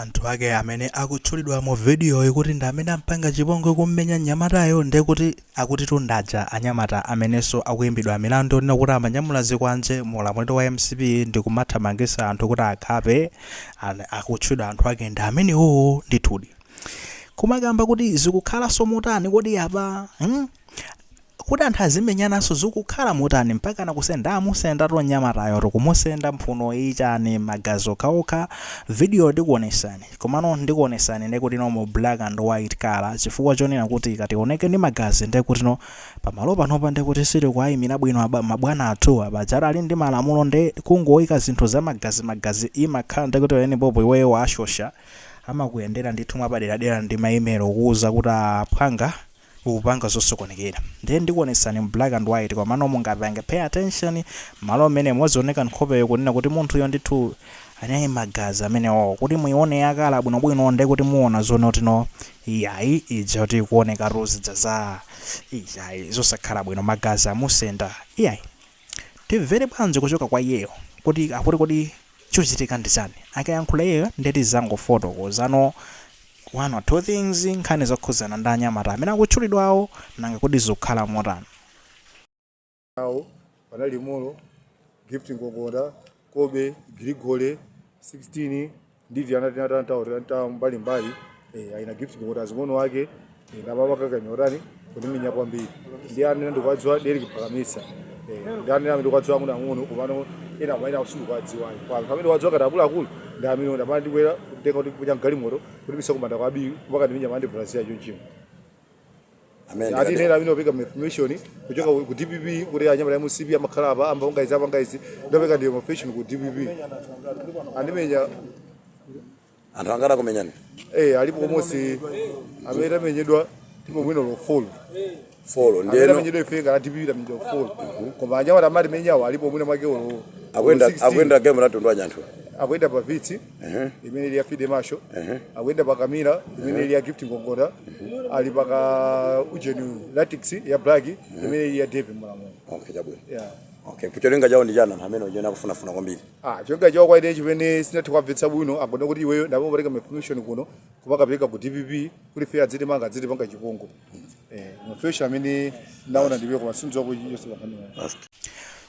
Anthu ake amene akutchulidwa mu vidiyoyi kuti ndi amene ampanga chipongwe kummenya mnyamatayo nde kuti akutitu ndi aja anyamata amenenso akuimbidwa milandu yonena kuti amanyamula zikwanje mu ulamuliro wa mcp ndi kumathamangitsa anthu kuti akhape an akutchulidwa anthu ake ndi amenewowo ndithudi kumakamba kuti zikukhalanso motani kodi apa hmm? Kuti anthu azimenyananso zikukhala motani mpakana kusenda amusendatu mnyamatayo to kumusenda mphuno iyi chani magazi okhaokha video ndikuonetsani komano ndikuonetsani nde kutino mu black and white colour chifukwa chonena kuti ikationeke ndi magazi nde kutino pamalo panopa nde kuti sitikuayimira bwino apa mabwana athuwa pajatu ali ndi malamulo nde kungoika zinthu za magazi magazi imakhala nde kuti pamene popo iweyo washosha amakuyendera ndithu mwapaderadera ndi ma email okuuza kuti aah phwanga ukupanga zosokonekera ndiye ndikuonetsani mu black and white komano mungapange pay attention malo mmene muzioneka nkhopeyo kunena kuti munthuyo ndithu anali magazi amenewo kuti muione yakhala bwinobwino ndiye kuti muona zonotino iyayi ija kuti ikuoneka tuzidza za iyayi zosakhala bwino magazi amusenda iyayi Timvere bwanji kuchoka kwa iyeyo kuti akuti kodi chikuchitika ndi chani? Akayankhula iyeyo nde tizangofotokoza no one or two things nkhani zokhudzana ndi anyamata amene akutchulidwawo nanga kodi zikukhala motani? nawo panali Molo, Gift Ngongonda, kobe grigore 16 ndi tiana tina ta- ta- ta- ta mbalimbali eh, aina Gift ndi azing'ono ake eh, ndamapakakanya kutani kutimenya kwambiri ndi amene ndikuwadziwa deriki pakamisa eh, ndi amene amene ndikuwadziwa ang'ono ang'ono komano ena mainawo sindikuwadziwa kwa anthu amene ndikuwadziwa kati akuluakulu ndi amene amanandibwera kutenga kutikunya mgalimoto kutibisa kumanda kwa Biwi mpaka kundimenya mande brazil chonchimo amene ati ndikati- nera amene wopereka information kuchoka ku DPP kuti anyamata a MCP amakhala apa amba ungaizi apa ngaizi ndopereka information ku DPP akumenya anthu angati akumenyani eh alipo komanso amene tamenyedwa tilipo folo folo amene ndeno amenyedwa ife ngati a DPP tamenyedwa folo koma anyamata amatimenyawo alipo mwina mwake olo akuyenda 16. akuyenda game latundu anyanthu akuyenda pa Vitz imene ili ya fide masho akuyenda pa Camry imene ili ya Gift Ngongonda ali pa kaujeni Ractis ya black imene ili ya Dave Mulamulo okay chabwino yeah. okay koma cholinga chawo ndi chani amene ujeni akufunafuna kwambiri Ah, cholinga chawo kwenikweni chimene sinathe kuwamvetsa bwino akuona kuti iweyo umapereka information kuno kumakapereka ku DPP kuti ife adzitimanga adzitipanga chipongwe eh mafesho amene ndaona ndiwe kwa masunzo ku Yesu kwa kanu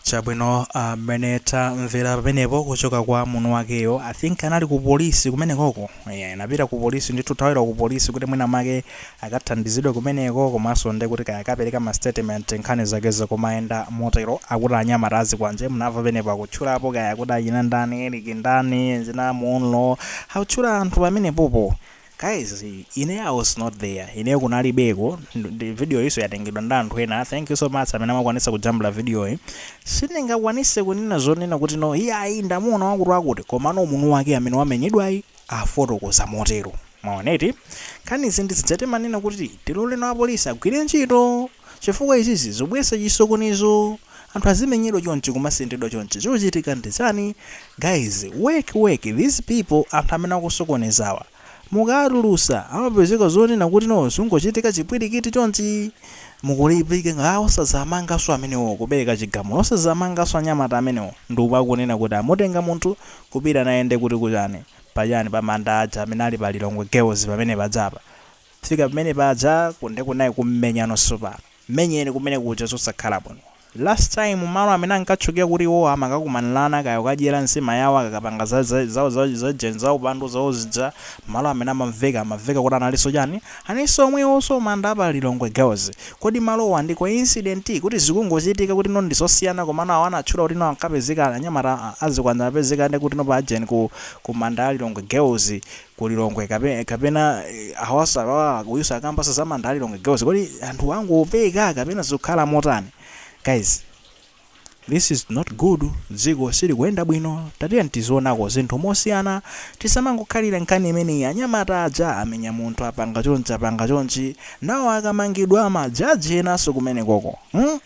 chabwino mmene tamvera pamenepo kuchoka kwa mamuna wakeyo i think anali ku polisi kumenekoko yeah, anapita ku polisi ndithu thawira ku polisi kuti mwina make akathandizidwe kumeneko komanso nde kuti kaya akapereka ma statement nkhani zake zikumayenda motero akuti anyamata azikwanje munamva pamenepo akutchulapo kaya kuti achina ndani Eric ndani dzina m'mulo akutchula anthu pamenepopo Guys ine I was not there, ineyo kunalibeko nde video yinso yatengedwa ndi anthu ena, thank you so much amene munakwanitsa kujambula video yi, sindingakwanise kunena zonena kuti no iyayi ndamuona wakuti wakuti komano mamuna wake amene wamenyedwayi wafotokoza motero mwaona eti nkhani izi ndizija timanena kuti tiloleni apolisi agwire ntchito chifukwa izizi zikubweretsa chisokonezo. anthu azimenyedwa chonchi kumasendedwa chonchi chochitika ndi chani guys work work these people anthu amene akusokonezawa mukawatulutsa amapezeka zonena kuti no zungochitika chipwilikiti chonchi mukulipika ngati osazamangaso amenewo kupeleka chigamulo osazamangaso anyamata amenewo nde uku akunena kuti amutenga munthu kupita naye nde kuti kuchani pachani pa manda aja amene ali pa lilongwe girls pamene pajapa kufika pamene paja kunde kunayi kummenyano tsopano Mmenyeni kumene kuja zosakhala bwino. Last time malo amene ankatchukira kuti iwowa amakakumanirana kaya kukadyera nsima yawo akakapanga za za zawo za za ujeni za upandu zawo zija malo amene amamveka amamveka kuti analinso chani analinso omwewonso manda apa Lilongwe girls. Kodi malowa ndi coincident kuti zikungochitika kutino ndi zosiyana komano awa anatchula kutino ankapezeka anyamata a zikwanje amapezeka nde kutino pa ujeni ku ku manda a Lilongwe girls. ku Lilongwe kape, kapena awa salawala uyu sakukamba za manda a Lilongwe girls kodi anthu angopeka kapena zikukhala motani guys this is not good dziko silikuyenda bwino tatiyeni tizionako zinthu mosiyana tisamangokhalira nkhani imeneyi anyamata aja amenya munthu apanga chonchi apanga chonchi nawo akamangidwa majaji enanso kumenekoko hmm?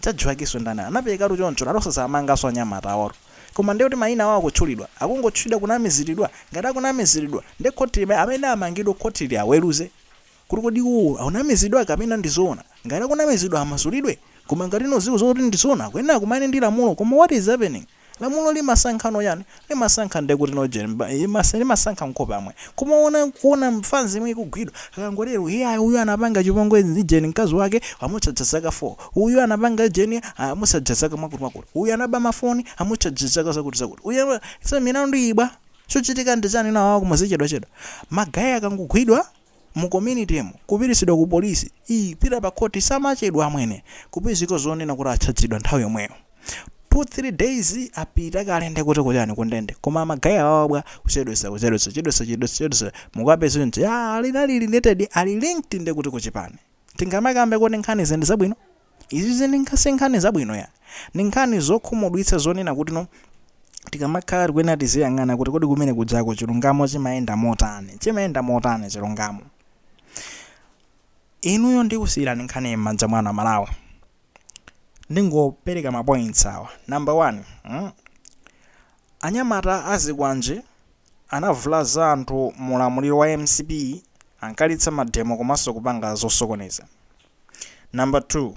Chadziwakiso ndani anapelekatu choncho analo osazawamangaso anyamata aworo koma ndiye kuti mayina awo akutchulidwa akungotchulidwa kunamizilidwa ngati akunamizilidwa ndiye khoti limene amene amangidwe khoti liaweluze kuti kodi iwowo akunamizidwa kapena ndizoona ngati akunamizidwa amasulidwe koma ngati zikuziwika kuti ndizoona akuyenela akumane ndi lamulo koma what is happening Lamulo limasankhano chani? Limasankha nde kuti no ujeni ba imasa limasankha nkhope amwe. Koma ona kuona mfanzi yomwe ikugwidwa akangoti lero iyaa uyu anapanga chipongwe ndi ujeni mkazi wake amucharger zaka 4. Uyu anapanga ujeni aa amucharger zaka mwakuti mwakuti. Uyu anaba ma phone amucharger zaka zakuti zakuti. Uyu anaba so milandu iyi bwa? Chochitika ndi chani nawawa kumazichedwa chedwa. Ma guy akangogwidwa mu community mu kupititsidwa ku police ii pita pa court samachedwa amwene kupezeka zonena kuti atchadzidwa nthawi yomweyo two three days apita kale nde kuti kuchani ku ndende koma ma guy awawa bwa kuchedwesa kuchedwesa chedwesa chedwesa chedwesa mukapeze nje ali ali related ali linked nde kuti ku chipani tingamakambe kuti nkhani izi ndi zabwino Izizi ndi nkhan sinkhani zabwino ayi. Ndi nkhani zokhumudwitsa zonena kuti no tikamakhala tikuyenera tiziyang'ana kuti kodi kumene kujako chilungamo chimayenda motani. Chimayenda motani chilungamo. Inuyo ndikusiyirani nkhaniyi m'manja mwanu a Malawi. Ndingopereka ma points awa. Number one, mm, anyamata azikwanje anavulaza anthu mu ulamuliro wa mcp ankalitsa mademo komanso kupanga zosokoneza. Number 2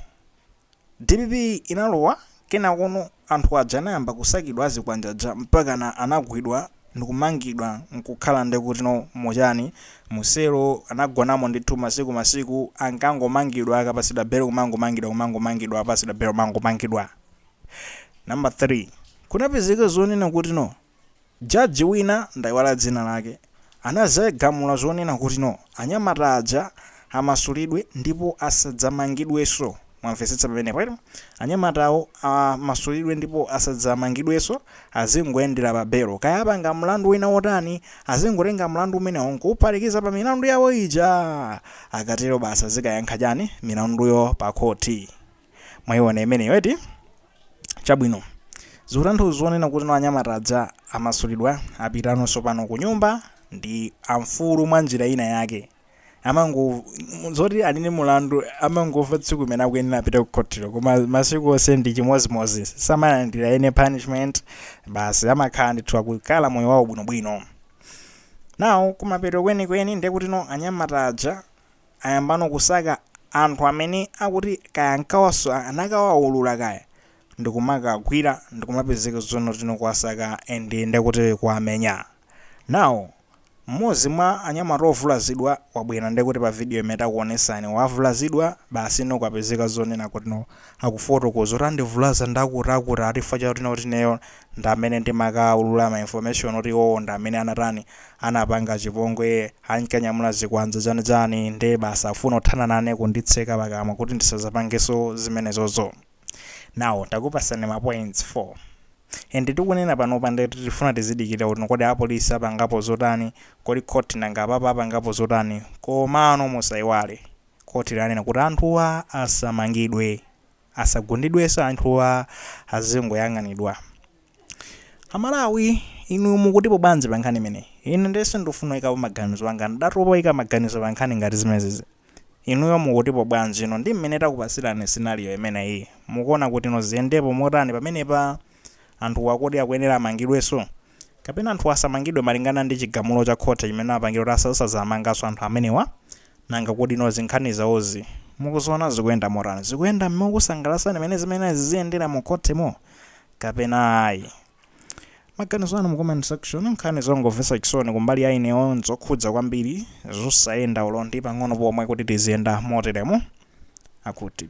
dpp inalowa kenakono anthu aja anayamba kusakidwa azikwanje aja mpakana anagwidwa ndikumangidwa nkukhala ndekutino muchani mu selo anagonamo ndithu masiku masiku ankangomangidwa akapatsidwa belo kumangomangidwa kumangomangidwa akapatsidwa belo kumangomangidwa Number 3 kunapezeka zonena kutino Judge wina, ndaiwala dzina lake, anazagamula zonena kuti no, anyamata aja amasulidwe ndipo asadzamangidweso. Mwamvesetsa pamenepo eti? Anyamatawo amasulidwe ndipo asadzamangidweso, azingoyendera pa belo. Kaya apanga mlandu wina wotani, azingotenga mlandu umenewo nkuuphatikiza pa milandu yawo ija! Akatero basi azikayankha chani milanduyo pa khoti? mwaiona imeneyo eti chabwino zikutanthauza zonena kuti no anyamata aja amasulidwa apitano sopano ku nyumba ndi amfulu mwa njira ina yake amango zoti ali ni mulandu amangomva tsiku imene akuyenera apita ku khotilo koma masiku onse ndi chimodzimodzi samalandira any punishment basi amakhala ndithu akukhala moyo wawo bwinobwino nawo kumapeto kwenikweni ndekuti no anyamata aja ayambano kusaka anthu amene akuti kaya ankawaswa anakawaulula kaya ndikumakagwira ndikumapezeka zonena kutino kuwasaka and ndekuti kuwamenya now mmodzi mwa anyamata ovulazidwa wabwera ndekuti pa video imene takuonesani wavulazidwa basi nikupezeka zonena kutino akufotokoza kuti andivulaza ndakuti akuti ati chifukwa chakuti no akuti ineyo ndi amene ndimakaulula ma information oti iwowo ndi amene anatani anapanga chipongwe ankanyamula zikwanje chani chani nde basi akufuna kuthana nane kunditseka pakamwa kuti ndisazapangeso zimenezozo now takupasani ma points 4 and tikunena panopa nde tifuna tizidikira kuti kodi a police apangapo zotani kodi court nanga apapa apangapo zotani komano musaiwale court lanena kuti anthuwa asamangidwe Asagundidweso anthuwa azingoyang'anidwa. A Malawi inu mukutipo bwanji pa nkhani imeneyi? Ine nde sindufuna kuyikapo maganizo anga ndatopa kuyika maganizo pa nkhani ngati zimenezi. Inuyo mukutipo bwanji inu ndi mmene takupatsirani scenario imeneyi? Mukuona kutino ziyendepo motani pamenepa? Anthuwa kodi akuyenera amangidweso? Kapena anthuwa asamangidwe malingana ndi chigamulo cha khoti chimene apanga kuti asazamanganso anthu amenewa? Nanga kodi nkhani zawozi mukuziwona zikuyenda motani? Zikuyenda mokusangalasani m'mene zimayenera ziziyendera mu khotimo kapena ayi? Maganizo anu mu comment section nkhani zongomvesa chisoni kumbali ya ineyo nzokhudza kwambiri zosayenda olo ndi pang'ono pomwe kuti tiziyenda moteremu. Akuti.